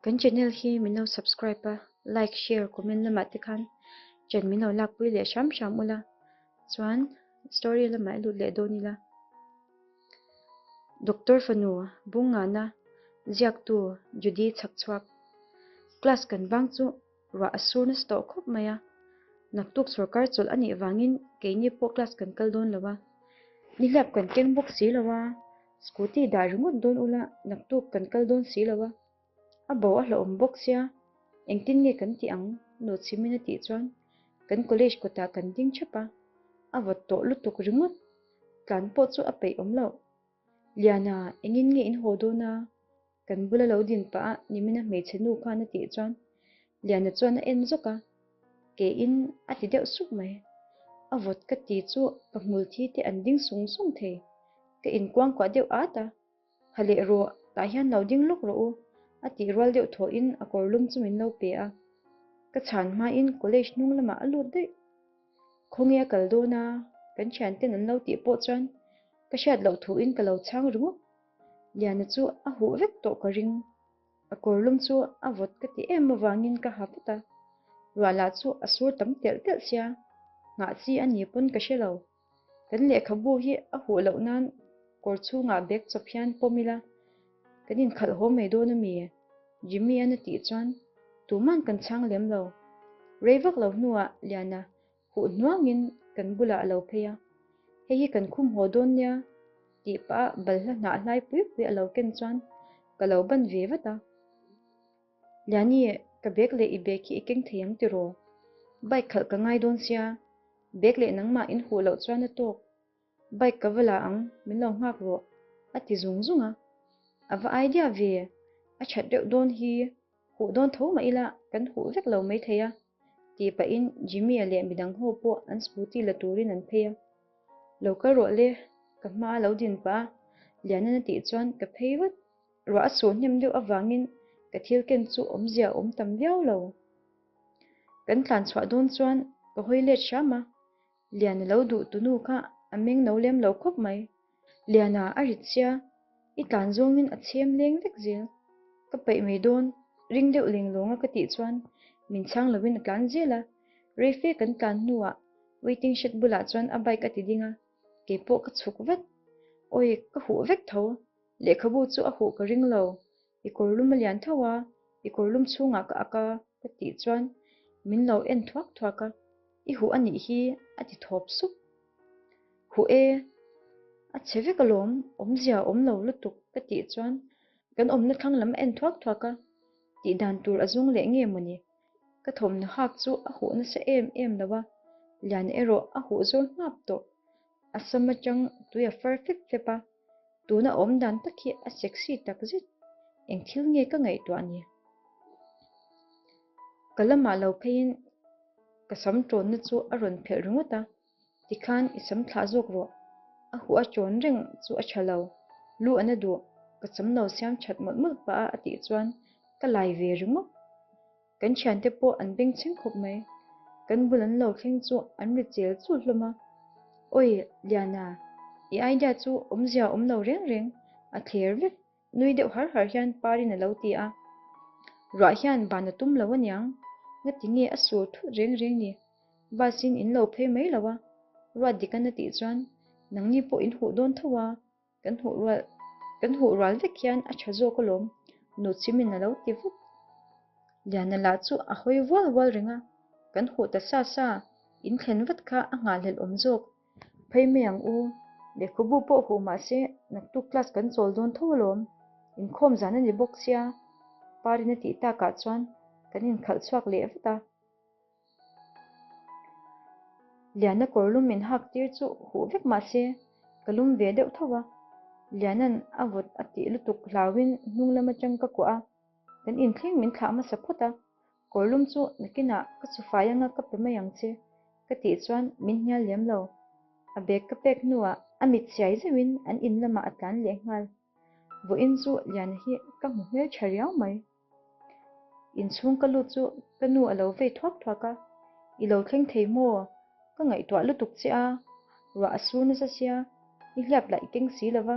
Kan channel hi min lo subscribe a, like, share, comment lamah te khan chen min lo lakpui leh hram hram ula, chuan story lamah i lut leh dawn ila. Doctor fanu bungnghahna ziaktu Judy chhakchhuak class kan vang chu ruah a sur nasa tawh khawp mai a, naktuk sorkar chawlh anih vangin keini pawh class kan kal dawn lo a, nihliap kan keng bawk si lo a, scooty dah ringawt dawn ula naktuk kan kal dawn si lo a, a bo a hlawhawm bawk sia, engtin nge kan tih ang? Nu Chhimin a tih chuan kan college kawtah kan ding thap a, a vawt tawh lutuk ringawt, tlan pawh chu a peih awm loh, Liana engin nge in haw dawn a? Kan bula lo din pah a, Nimina hmeichhe nu khan a tih chuan Liana chuan a en zawk a, ke in a ti deuh suk mai. A vawt ka ti chu ka hmul thi te an ding sung sung thei. Ka in kuang kuah deuh at a, Ha leh rawh, tah hian lo ding lawk rawh u, a tih rual deuh thawh in a kawrlum chu min lo pe a. Ka chhan hma in college hnung lamah a lut daih. Khawnge a kal dawn a, kan thiante'n an lo tih pawh chuan ka hriat loh thu in ka lo chhang ringawk. Liana chu a huh vek tawh ka ring. A kawrlum chu a vawt ka ti em avangin ka ha put a. Ruahla chu a sur tam telh telh sia. Nghah chi a ni pawn ka hre lo. Kan lehkhabu hi a huh loh nan kawr chhungah bag chawp hian pawm ila kan inkhalhawm mai dawn a mi e? Jimmy-an a tih chuan, Tuman kan chhang lem lo. Rei vak lo hnuah Liana Huh hnuangin kan bulah a lo phei a, hei hi kan khum haw dawn nia tih pah a balhla hnah hlai pui pui a lo ken chuan ka lo ban ve vat a, Liani e, ka bag leh i bag hi i keng thei ang tiraw? Bike khalh ka ngai dawn sia, bag leh nangmah in huh loh chuan a tawk, Bike ka va la ang, min lo nghak rawh, a ti zung zung a. A va ai diah ve, a that deuh dawn hi huh dawn tho mah ila kan huh vek lo mai thei a, tih pahin Jimmy-a leh midang ho pawh an scooty la turin an phei a. Lo kal rawh le, ka hma a lo din pah a, Liana'n a tih chuan ka phei vat. Ruah a suh hnem deuh avangin ka thil ken chu awmzia a awm tam viau lo. Kan tlan chhuah dawn chuan ka hawi let hram a, Liana lo duh tunu kha a meng no lem lo khawp mai. Liana a rit sia, i tlan zawngin a chhem leng vek zil. Ka peih mai dawn, ring deuh leng lawnga ka tih chuan min chhang lovin a tlan zil a. Reife kan tlan hnuah waiting shed bulah chuan a bike a ti ding a, kei pawh ka chhuk vat. Awi, ka huh vek tho. Lehkhabu chu a huh ka ring lo. I kawrlum a lian thauh a, i kawrlum chhungah ka ak a, ka tih chuan min lo en thuak thuak a, i huh a nih hi a ti thawp sup. Huh e, a chhe vek alawm, awmzia a awm lo lutuk ka tih chuan kan awmna thlang lam a en thuak thuak a, tih dan tur a zung leh nge mawni, ka thawmhnaw hak chu a huh nasa em em lo a, lian erawh a huh zawl nghap tawh, A sam atang tui a far fep fep a, tun a awm dan tak hi a sexy tak zet, eng thil nge ka ngaihtuah ni? Ka lamah lo pheiin ka sam tawnna chu a rawn phelh ringawt a, tikhan i sam thlah zawk rawh, a huah tawn reng chu a tha lo, lu ana duh, ka sam lo siam that mawlh mawlh pah a a tih chuan ka lai ve ringawt. Kan thiante pawh an beng chhing khawp mai. Kan bul an lo thleng chu an ri chel chu hlawm a. Awi Liana, i idea chu awmzia awm lo reng reng, a thler vek. Nui deuh har har hian Parin a lo ti a. Ruah hian van a tum lo a niang. Nga ti nge a sur thut reng reng ni. Busin in lo phei mai lo a. Ruah dik a na tih chuan, Nangni pawh in huh dawn tho a. Kan hmuh rual kan hmuh rual vek hian a tha zawk alawm. Nu Chimin a lo ti vut. Liana lah chu a hawi vual vual reng a, kan hmuh ta sa sa in thlen vat kha a nghahhlelh awm zawk. Phei mai ang u, lehkhabu pawh huh mah se naktuk class kan chawl dawn tho alawm. Inkhawm zan a ni bawk sia. Parin a tih takah chuan kan inkhalh chhuak leh vat a. Liana kawrlum in hak tir chu huh vek mah se ka lum ve deuh thauh a, Liana'n a vawt a tih lutuk hlauin hnunglam atang ka kuah a, kan inthleng min thlah hmasa phawt a, kawrlum chu nakinah ka chhu fai anga ka pe mai ang che ka tih chuan min hnial lem lo, a bag ka pek hnuah a mit chiai zeuhin an in lamah a tlan leh nghal. Vawiin chu Liana hi ka hmu hmel tha riau mai. Inchhung ka lut chu ka nu a lo vei thuak thuak a, I lo thleng thei maw? Ka ngaihtuah lutuk che a, ruah a su nasa sia, i hliap laih keng si lova,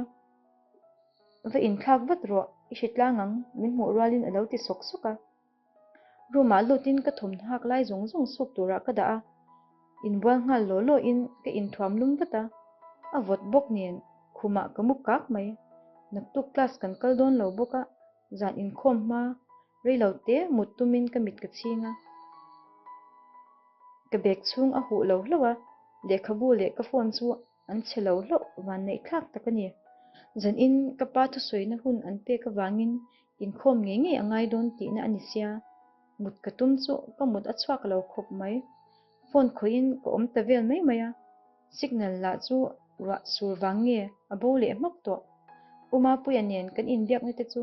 va inthlak vat rawh, i hre tlang ang, min hmuh rualin a lo ti sawk sawk a. Room ah lutin ka thawmhnak lai zawng zawng suk turah ka dah a, inbual nghal law law in ka inthuam lum vat a, a vawt bawk nen khumah ka mu kak mai. Naktuk class kan kal dawn lo bawk a, Zan inkhawm hma rei lo te mut tumin ka mit ka chhing a. Ka bag chhung a huh lo hlauh a, lehkhabu leh ka phone chu an chhe lo hlauh vanneih thlak tak a ni. Zan in ka pa thusawina hun an pek avangin inkhawm ngei ngei a ngai dawn tihna a ni sia. Mut ka tum chu ka mut a chhuak lo khawp mai. Phone khawihin ka awm ta vel mai mai a, signal lah chu ruah sur vang nge a bo leh hmak tawh. Umapuia nen kan inbiak na te chu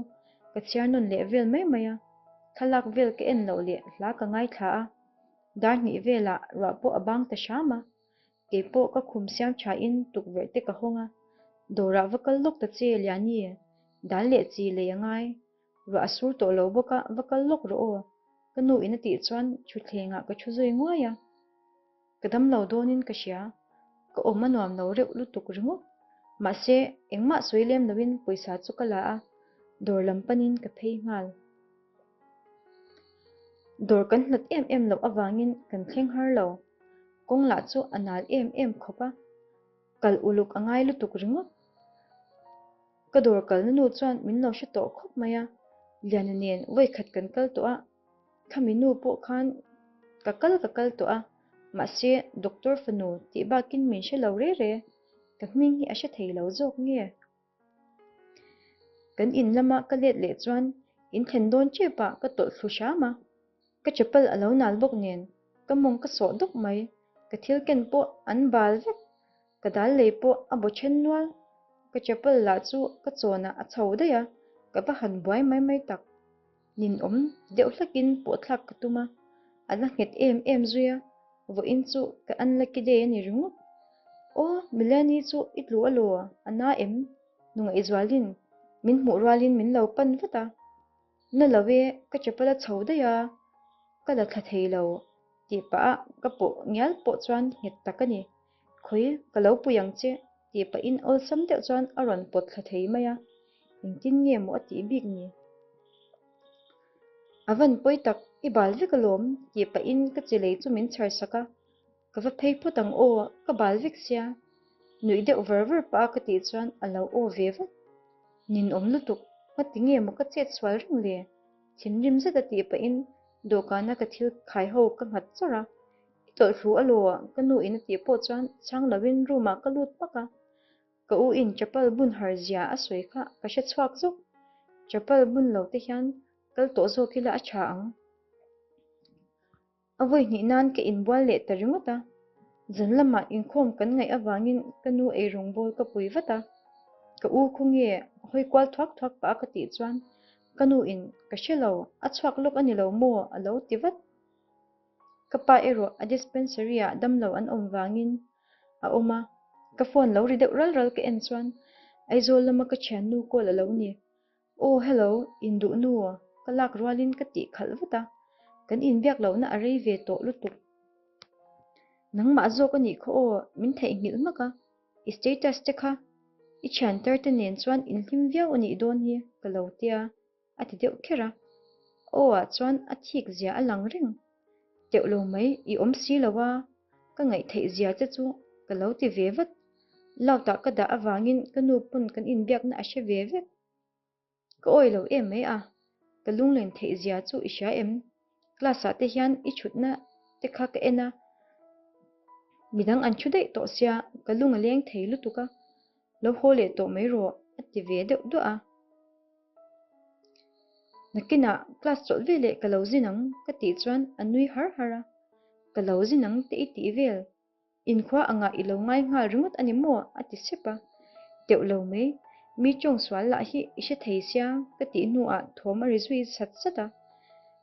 ka chhiar nawn leh vel mai mai a, thlalak vel ka en loh leh hla ka ngaithla a, dar hnih velah ruah pawh a bang ta hram a, keipawh ka khum siam tha in tukverh te ka hawng a, dawrah va kal lawk ta che Liani, dal leh chi lei a ngai Ruah a sur tawh lo bawk a, va kal lawk rawh aw, ka nu in a tih chuan thutthlengah ka thu zui nguai a. Ka dam lo dawnin ka hria, ka awm a nuam lo reuh lutuk ringawt. Mahse, engmah sawi lem loin pawisa chu ka la a, dawr lam panin ka phei nghal. Dawr kan hnawt em em loh avangin kan thleng har lo. Kawng lah chu a nal em em khawp a, kal uluk a ngai lutuk ringawt. Ka dawr kalna nu chuan min lo hre tawh khawp mai a, Liana nen vaikhat kan kal tawh a, khami nu pawh khan ka kal ka kal tawh a, mahse doctor fanu tih bakin min hre lo rere, ka hming hi a hre thei lo zawk nge? Kan in lama ka let leh chuan in thlen dawn tep a ka tawlh thlu hram a. Ka chapal a lo nal bawk nen ka mawng ka sawh dup mai, ka thil ken pawh an bal vek, ka dal lei pawh a baw then nual. Ka chapal lah chu ka chawnah a chho daih a, ka va han buai mai mai tak. Ninawm deuh hlakin pawhthlak ka tum a, a la nghet em em zui a, vawiin chu ka an la ki daih a ni ringawt. Aw, Melanie chu i tlu alaw a na em? Nungaihzualin min hmuh rualin min lo pan vat a. Na lo e, ka chapal a chho daih a, ka la thla thei lo, tih pahah ka pawh ngial pawh chuan nghet tak a ni. Khawi, ka lo pui ang che, tih pahin awlsam deuh chuan a rawn pawt thla thei mai a, engtin nge maw a tih bik ni? A van pawi tak, i bal vek alawm, tih pahin ka chi lei chu min chhar sak a. Ka va phei phawt ang aw, ka bal vek sia. Nuih deuh var var pah a ka tih chuan a lo aw ve vat. Nin awm lutuk, ka ti nge maw ka chet sual reng le? Thinrim zet a tih pahin dawhkana ka thil khai ho ka nghat char a. I tawlh hlu a law, ka nu in a tih pawh chuan chhang lo in room ah ka lut pak a. Ka u in chapal bun har zia a sawi kha ka hre chhuak zawk. Chapal bun lo te hian kal tawh zawk ila a tha ang. A vawi hnih nan ka inbual leh ta ringawt a, zun lamah inkhawm kan ngaih avangin ka nu eirung bawl ka pui vat a. Ka u khaw nge hawi kual thuak thuak pah a ka tih chuan ka nu in ka hre lo, a chhuak lawk a ni lo maw a lo ti vat. Ka pa erawh a dispensary ah damlo an awm vangin a awm a, ka phone lo ri deuh ral ral ka en chuan Aizawl lama ka thiannu call a lo ni, Oh hello, in duh nu aw, ka lak rualin ka tih khalh vat a, kan inbiak lohna a rei ve tawh lutuk. Nangmah zawk a nih khaw aw, min theih nghilh hmak a, i status te kha i thianter te nen chuan in hlim viau a nih dawn hi ka lo tia, a ti deuh kher a. Aw-ah chuan a thik zia a lang reng. Teuh lo mai, i awm si lo a, ka ngaihtheih zia che chu ka lo ti ve vat. Loutah ka dah avangin ka nu pawn kan inbiakna a hre ve vek. Ka awi lo em mai a, ka lunglen theih zia chu i hria em? Class-ah te hian i thutna te kha ka en a, midang an thu daih tawh sia, ka lung a leng thei lutuk a. lo haw leh tawh mai rawh a ti ve deuh duah a. Nakinah class chawlh veleh ka lo zin ang ka tih chuan a nui har har a, ka lo zin ang te i tih vel, inkhua angah i lo ngai nghal ringawt a ni maw a ti sep a, deuh lo mai, mi tawng sual lah hi i hre thei sia ka tih hnuah thawm a ri zui sat sat a.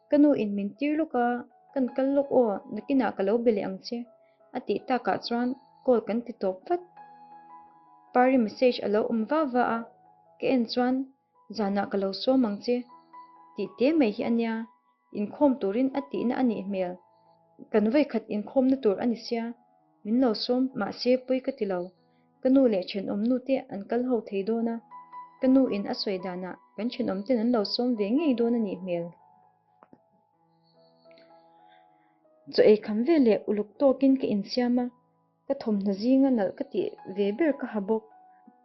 Ka nu in min tir lawk a, kan kal lawk aw, Nakinah ka lo be leh ang che. a tih takah chuan call kan ti tawp vat. Pari message a lo awm va va a, ka en chuan zanah ka lo sawm ang che tih te mai hi a nia, inkhawm turin a tihna a nih hmel, kan vawikhat inkhawmna tur a ni sia, min lo sawm mahse pawi ka ti lo, ka nu leh thenawmnu te an kal ho thei dawn a, ka nu in a sawi danah kan thenawmten an lo sawm ve ngei dawn a nih hmel. Chaw ei kham ve leh uluk tawkin ka insiam a, ka thawmhnaw zinga nalh ka tih ve ber ka ha bawk.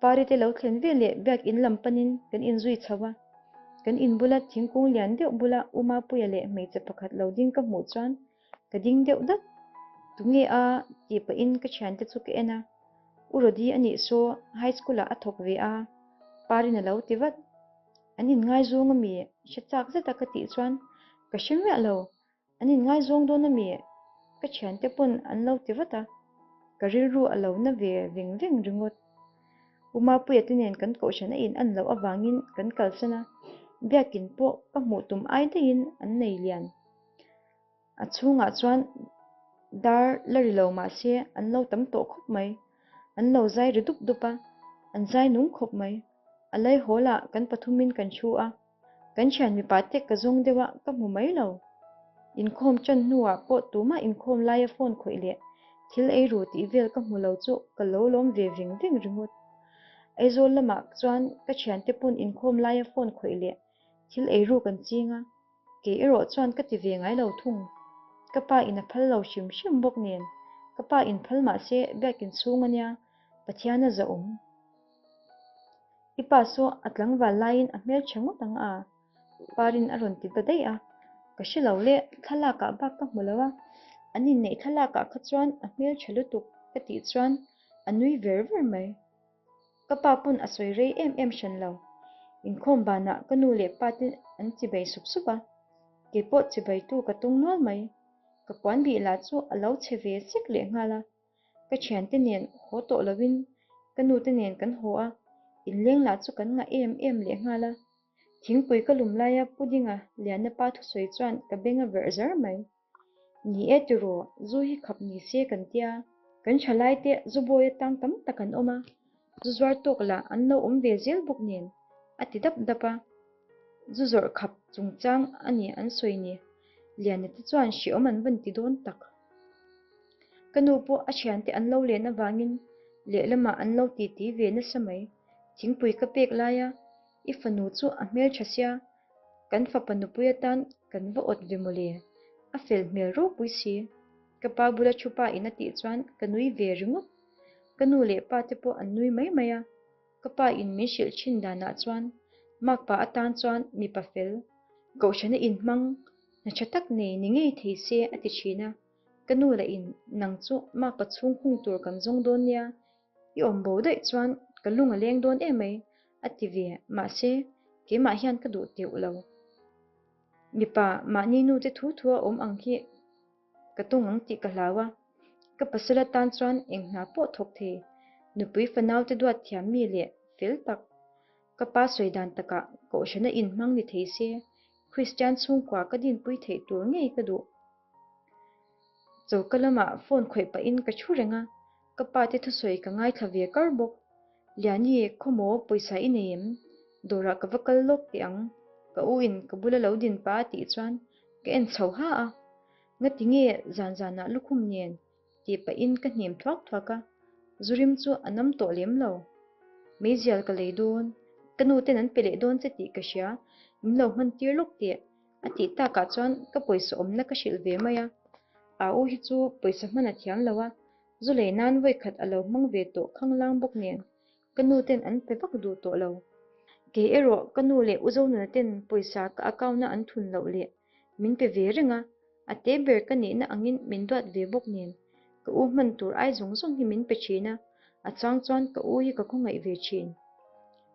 Parite lo thlen ve leh biak in lam panin kan inzui chho a. Kan in bula thingkung lian deuh bula Umapuia leh hmeichhe pakhat lo ding ka hmuh chuan ka ding deuh dat. Tunge a? tih pahin ka thiante chu ka en a. U Rodi a nih saw, high school-ah a thawk ve a, Parin a lo ti vat. An inngaizawng a mi, i hre chak zet a ka tih chuan ka hre miah lo, an inngaizawng dawn a mi, ka thiante pawn an lo ti vat a, ka rilru a lo na ve veng veng ringawt. Pumapuia te nen kan kohhran a in an loh avangin kan kalsan a, biakin pawh ka hmuh tum ai daihin an nei lian. A chhungah chuan dar la ri lo mahse an lo tam tawh khawp mai, an lo zai ri dup dup a, an zai nung khawp mai. A lei hawlah kan pathumin kan thu a, kan thian mipa tek ka zawng deuha ka hmu mai lo. Inkhawm tan hnuah pawh tumah inkhawm laia phone khawih leh thil ei ru tih vel ka hmu lo chu ka lo lawm ve veng veng ringawt. Aizawl lamah chuan ka thiante pawn inkhawm laia phone khawih leh thil ei ru kan ching a, Kei erawh chuan ka ti ve ngai lo thung. Ka pa in a phal lo hrim hrim bawk nen, ka pa in phal mah se biak in chhung a nia, Pathian a zahawm. I pa saw a tlangval laiin a hmelṭha ngawt ang a, Parin a rawn ti ta daih a, Ka hre lo le, thlalakah bak ka hmu lo a, an inneih thlalakah kha chuan a hmelṭha lutuk ka tih chuan a nui ver ver mai. Ka pa pawn a sawi rei em em hran lo. Inkhawm banah ka nu leh pa te an chibei sup sup a, keipawh chibeitu ka tung nual mai. Ka puan bih lah chu a lo chhe ve sek leh nghal a. Ka thiante nen haw tawh loin ka nu te nen kan haw a, inleng lah chu kan ngah em em leh nghal a. Thingpui ka lum laia pudding a lianna pa thusawi chuan ka beng a verh zar mai. Ni e tiraw, zu hi khap ni se kan tia, kan tha lai te zu bawi atang tam tak an awm a, zu zuar tawk lah an lo awm ve zel bawk nen a ti dap dap a, zu zawrh khap chungchang a nih an sawi ni. Liana te chuan hriawm an van ti dawn tak. Ka nu pawh a thiante an lo len avangin lehlamah an lo titi ve nasa mai. Thingpui ka pek lai a, i fanu chu a hmeltha sia, Kan fapa nupui atan kan va awt ve mawle, a fel hmel ropui si. Ka pa bula thu pa in a tih chuan ka nui ve ringawt. Ka nu leh pa te pawh an nui mai mai a. Ka pa in min hrilh thin danah chuan Mark pa atan chuan mipa fel, kohhrana inhmang, hna tha tak nei ni ngei thei se a ti thin a. Ka nu lah in, Nang chu Mark pa chhung hung tur kan zawng dawn nia, i awm bo daih chuan ka lung a leng dawn em mai a ti ve, mahse keimah hian ka duh teuh lo. Mipa mahni nu te thu thu a awm ang hi ka tawng ang tih ka hlau a, ka pasal atan chuan eng hna pawh thawk thei, nupui fanau te duat thiam mi leh fel tak, ka pa sawi dan takah kohhran a inhmang ni thei se, Kristian chhungkua ka dinpui theih tur ngei ka duh. Choka lama phone khawih pahin ka thu reng a, ka pa te thusawi ka ngaithla ve kar bawk. Liani, khawmaw pawisa i nei em? Dawrah ka va kal lawk teh ang. Ka u in ka bula lo din pa a tih chuan ka en chho ha a. Ngati nge zan zanah lukhum nen? ti pahin ka hnem thuak thuak a. Zu rim chu a nam tawh lem lo. Meizial ka lei dawn. Ka nu ten an pe leh dawn che tih ka hria. Min lo hmantir lawk teh. A tih takah chuan ka pawisa awmna ka hrilh ve mai a, a u hi chu pawisa hman a thiam lo a, zu lei nan vawikhat a lo hmang ve tawh khang lang bawk nen ka nu ten an pe vak duh tawh lo. Kei erawh ka nu leh u zo nuna ten pawisa ka account a an thun loh leh min pe ve reng a, a te ber ka nihna angin min duat ve bawk nen ka u hman tur ai zawng zawng hi min pe thin a, a chang chuan ka u hi ka khawngaih ve thin.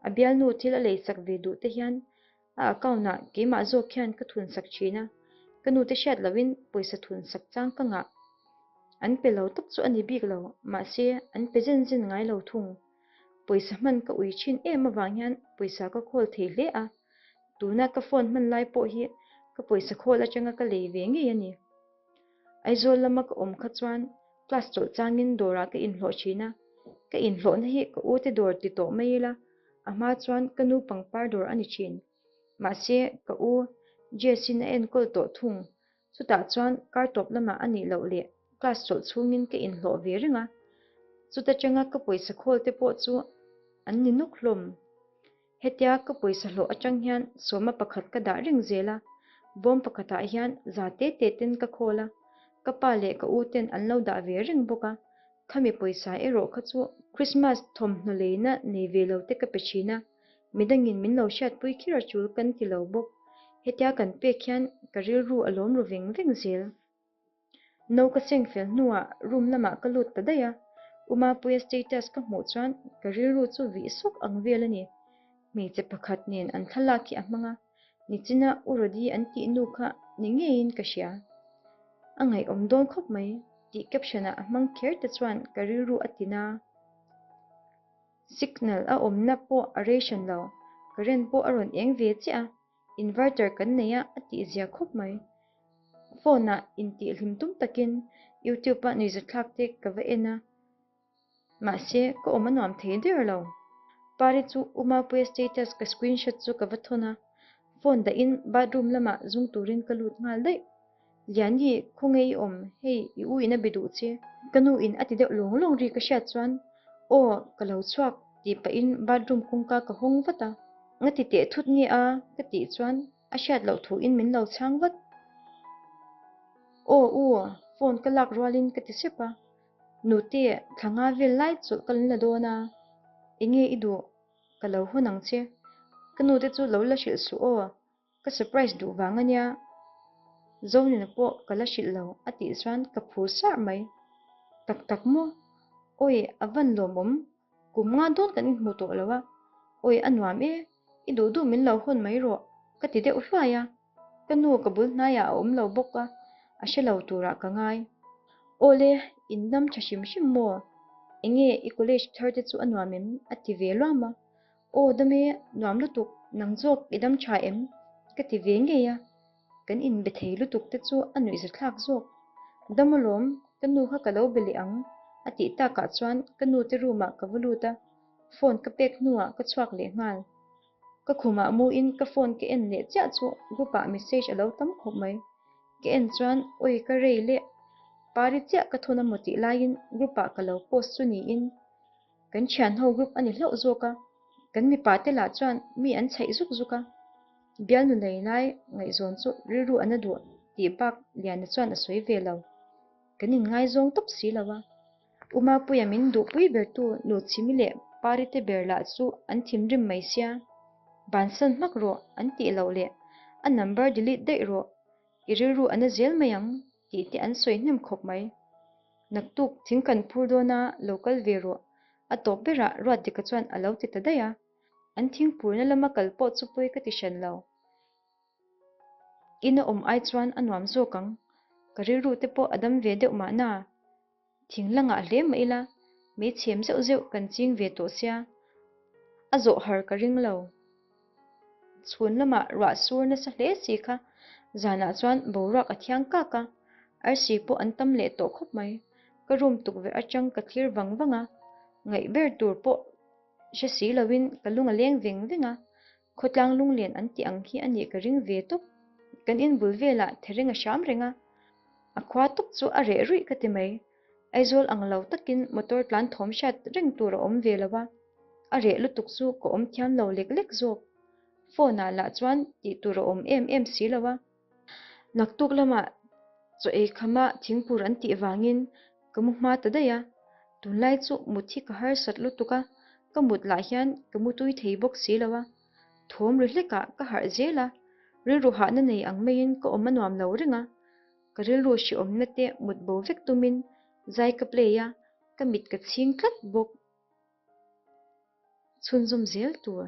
A bialnu thil a lei sak ve duh te hian A account ah keimah zawk hian ka thun sak thin a, ka nu te hriat loh in pawisa thun sak chang ka ngah. An pe lo tak chu a ni bik lo, mahse an pe zen zen ngai lo thung. Pawisa hman ka ui thin em avang hian pawisa ka call thei hle a. Tuna ka phone hman lai pawh hi ka pawisa call atanga ka lei ve ngei a ni. Aizawl lama ka awm kha chuan class chawlh changin dawrah ka inhlawh thin a, ka inhlawhna hi ka ute dawr ti tawh mai ila, a hma chuan ka nu pangpar dawr a ni thin. Mahse, ka u Jessin a enkawl tawh thung, chutah chuan kar tawp lamah a nih loh leh class chawlh chhungin ka inhlawh ve reng a, chuta tanga ka pawisa khawlte pawh chu an ni nawk hlawm. Hetia ka pawisa hlawh atang hian sawma pakhat ka dah reng zel a, bawm pakhatah hian za te te ten ka khawl a, ka pa leh ka u ten an lo dah ve reng bawk a, khami pawisa erawh kha chu. Krismas thawmhnaw leina nei ve lo te ka pe thin a, midangin min lo hriat pui khir a chul kan ti lo bawk. Hetia kan pek hian ka rilru a lawm ru veng veng zel. No ka seng fel hnuah room lamah ka lut ta daih a, Umapuia status ka hmuh chuan ka rilru chu vih sawk ang vel a ni. Hmeichhe pakhat nen an thlalak hi a hmang a, nichina U Rodi an tih nu kha ni ngeiin ka hria. A ngaihawm dawn khawp mai, tih caption a a hmang kher te chuan ka rilru a ti na. Signal a awmna pawh a rei hran lo, current pawh a rawn eng ve chiah a, Inverter kan nei a, a tih zia khawp mai. Phone ah intih hlim tum takin YouTube ah nuihzatthlak te ka va en a, mahse ka awm a nuam thei der lo. Pari chu Uma Puia status ka screenshot chu ka va thawn a, phone dahin bathroom lamah zung turin ka lut nghal daih. Liani, khawnge i awm? Hei, i u in a be duh che. Ka nu in a ti deuh lawng lawng ri ka hriat chuan, Aw, ka lo chhuak, tih pahin bathroom kawngka ka hawng vat a. Nga ti teh thut nge a? ka tih chuan a hriat loh thu in min lo chhang vat. Aw u, phone ka lak rual in ka ti sep a, Nute, thla nga vel lai chu ka lo la dawn a, enge i duh? Ka lo hawn ang che. Ka nute chu lo la hrilh suh aw, Ka surprise duh vang a nia, Zonina pawh ka la hrilh lo a tih chuan ka phur sar mai tak tak maw, Awi a van lawmawm kum nga dawn kan inhmu tawh lo a, Awi a nuam e, i duh duh min lo hawn mai rawh ka ti deuh hluai a, ka nu ka bul hnaiah a awm lo bawk a, a hre lo turah ka ngai. Awle in dam tha hrim hrim maw, enge i college thar te chu a nuam em a ti ve luam a, Aw dam e, nuam lutuk, nang zawk i dam tha em? ka ti ve ngei a, kan inbe thei lutuk te chu a nuih za thlak zawk. Dam alawm, ka nu kha ka lo be leh ang, a tih takah chuan ka nu te room ah ka va lut a, phone ka pek hnuah ka chhuak leh nghal. Ka khumah muin ka phone ka en leh chiah chu group ah message a lo tam khawp mai. Ka en chuan awi ka rei le, pari chiah ka thun a mu tih laiin group ah ka lo post chu niin. Kan thianho group a ni hlauh zawk a, kan mipa te lah chuan mi an chhaih zuk zuk a, Bialnu lei lai ngaihzawn chu rilru an a duah tih bak Liana chuan a sawi ve lo. Kan inngaizawng tawp si lo a. Uma puia min duhpui bertu nu Chimi leh Pa Rite ber lah chu an thim rim mai sia, ban san hmak rawh an tih loh leh a number delete daih rawh, i rilru an a zel mai ang tih te an sawi hnem khawp mai. Naktuk thing kan phur dawn a, lo kal ve rawh. A tawp berah Ruatdeka chuan a lo ti ta daih a, an thing phurna lama kal pawh chu pawi ka ti hran lo. Ina awm ai chuan a nuam zawk ang. Ka rilru te pawh a dam ve deuh mahna Thing langah hle mah ila meichhem zeuh zeuh kan ching ve tawh sia, a zawh har ka ring lo. Chhun lamah ruah sur nasa hle si kha zanah chuan boruak a thiang kak a, arsi pawh an tam leh tawh khawp mai. Ka rum tukverh atang ka thlir vang vang a, ngaih ber tur pawh hre si lo in ka lung a leng veng veng a, Khawtlang lunglen an tih ang hi a nih ka ring ve tawp. Kan in bul velah thereng a hram reng a, a khua tawk chu a reh ruih ka ti mai. Aizawl ang lo takin motor tlan thawm hriat reng tur a awm ve lo a, a reh lutuk chu ka awm thiam lo lek lek zawk. Phone-ah lah chuan tih tur a awm em em si lo a. Naktuk lama chaw ei khama thingpur an tih vangin ka mu hma ta daih a, tunlai chu mut hi ka harsat lutuk a, ka mut lah hian ka mu tui thei bawk si lo a, thawm ri hleka ka harh zel a, rilru hahna nei ang maiin ka awm a nuam lo reng a, ka rilru hriawmna te mut bo vek tumin zai ka play a, ka mit ka chhing tlat bawk chhunzawm zel tur.